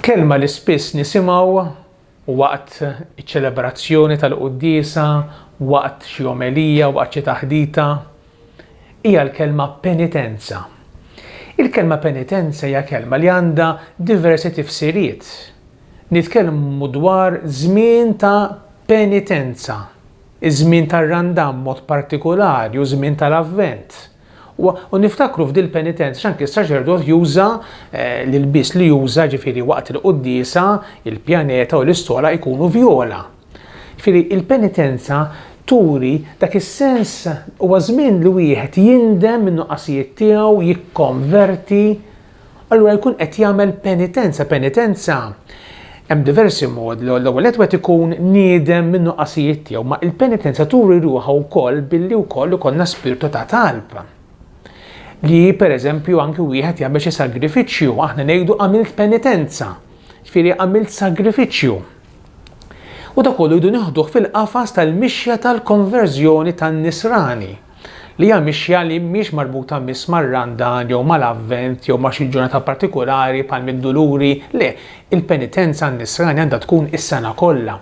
Kelma li spiss nisimgħu waqt iċ-ċelebrazzjoni tal-quddiesa, waqt xi omelija, waqt xi taħdita, hija l-kelma penitenza. Il-kelma penitenza hija kelma li għandha diversi tifsiriet. Nitkellmu dwar żmien ta' penitenza, Iż-żmien tar-Randan b'mod partikulari u ż-żmien tal-Avvent. U niftakru f'dil-penitenza x'anki s-saċerdot juża l-ilbies li juża, jiġifieri waqt il-quddiesa il-pjaneta u l-istola jkunu vjola. Jiġifieri il-penitenza turi dak is-sens, huwa żmien li wieħed jindem min-nuqqasijiet tiegħu, jikkonverti. allura jkun qed jagħmel penitenza. Penitenza hemm diversi modi. L-ewwel qed wieħed ikun niedem minn nuqqasijiet tiegħu, ma il-penitenza turi ruħha wkoll billi wkoll ikollna spirtu ta' talb. Li pereżempju anki wieħed jagħmel xi sagrifiċċju, aħna ngħidu għamilt penitenza, ġifieri għamilt sagrifiċċju. U da kollu jdu nieħduh fil-qafas tal-mixja tal-konverżjoni tan-nisrani. li hija mixja li mhix marbuta miss mar-Randan jew mal-Avvent jew ma' xi ġurnata partikulari bħal mid-Duluri, le, il-penitenza għan-nisrani għandha tkun is-sena kollha.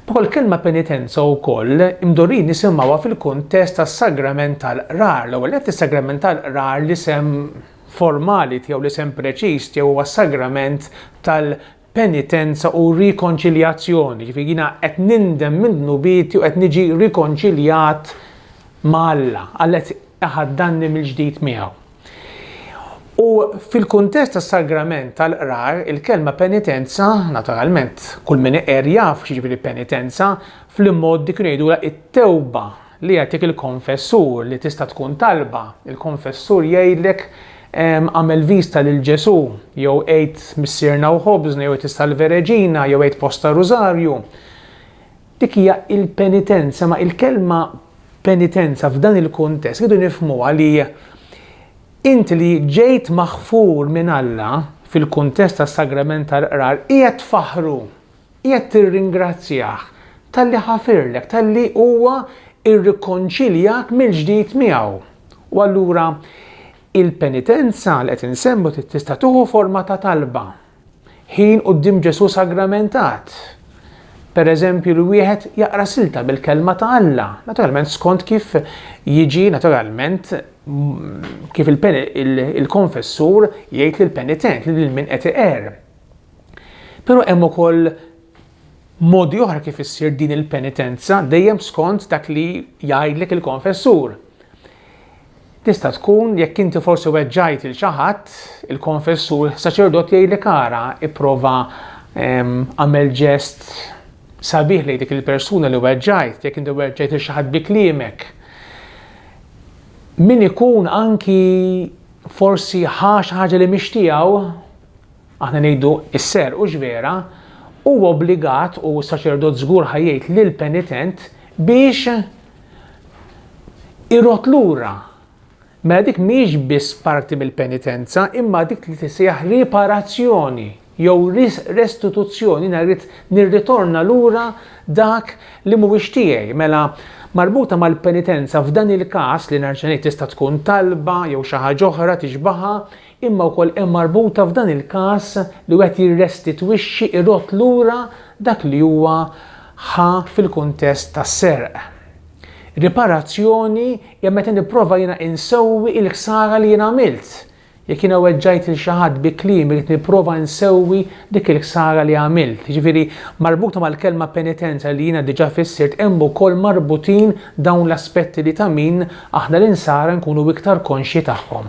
Ukoll il-kelma penitenza wkoll imdorrijin nisimgħuha fil-kuntest tas-sagrament tal-qrar, l-ewwel nett is-sagrament tal-qrar l-isem formali tiegħu l-isem preċiż tiegħu huwa s-sagrament tal penitenza u rikonċiljazzjoni, ġifieri jiena qed nindem minn dnubieti u qed niġi rikonċiljat ma' Alla, Alla qed iħaddanni mill-ġdid miegħu. U fil-kuntest tas-sagrament tal-qrar, il-kelma penitenza, naturalment, kull min iqer jaf x'jiġifieri penitenza, fl-imgħoddi kienu jgħidulha it-tewba. Li jagħtik il-konfessur, li tista' tkun talba. Il-konfessur jgħidlek, Agħmel vista lil Ġesù, jew għid Missierna u Ħobżna, jew għid is-Salve Regina, jew għid bosta Rużarju. Dik hija il-penitenza, ma il-kelma penitenza f'dan il-kuntest rridu nifhmuha li int li ġejt maħfur minn Alla fil-kuntest tas-sagrament tal-qrar qiegħed tfaħħru Qiegħed tirringrazzjah talli ħafirlek, talli huwa rrikonċiljak mill-ġdid miegħu. U allura il-penitenza li qed insemmu tista' tieħu forma ta' talba. Ħin quddiem Ġesù sagramentat. Pereżempju li wieħed jaqra silta mill-kelma ta' Alla, naturalment skont kif jiġi naturalment kif il-konfessur jgħid lill-penitent, lil min qed iqerr. Però hemm ukoll modi oħra kif issir din il-penitenza dejjem skont dak li jgħidlek il-konfessur. Tista' tkun jekk inti forsi weġġajt il xi ħadd, il-konfessur saċerdot jgħidlek ara ipprova ehm, għamel ġest sabiħ lejn dik il-persuna li weġġajt, jekk inti weġġajt il xi ħadd bi kliemek. Min ikun anki forsi ħax ħaġa li mixtiegħu aħna ngħidu s-seher hux vera, hu obbligat u s-saċerdot żgur ħa jgħid lill-penitent biex irodd lura. Mela dik mhijiex biss parti mill-penitenza, imma dik li tisejjaħ riparazzjoni jew restituzzjoni narid nirritorna lura dak li mhuwiex tiegħi. Mela marbuta mal-penitenza f'dan il-każ li nerġa' ngħid tista' tkun talba jew xi ħaġa oħra tixbaħha imma wkoll hemm marbuta f'dan il-każ li wieħed jirrestitwixxi, irodd lura dak li huwa ħa fil-kuntest tas-serq. Riparazzjoni hija meta nipprova jiena insewwi il-ħsara li jien għamilt. Jekk jiena weġġajt lil xi ħadd bi kliem irrid nipprova nsewwi dik il-ħsara li għamilt. Jiġifieri marbuta mal-kelma penitenza li jiena diġà fissirt hemm ukoll marbutin dawn l-aspetti li ta' min aħna l-insara nkunu iktar konxji tagħhom.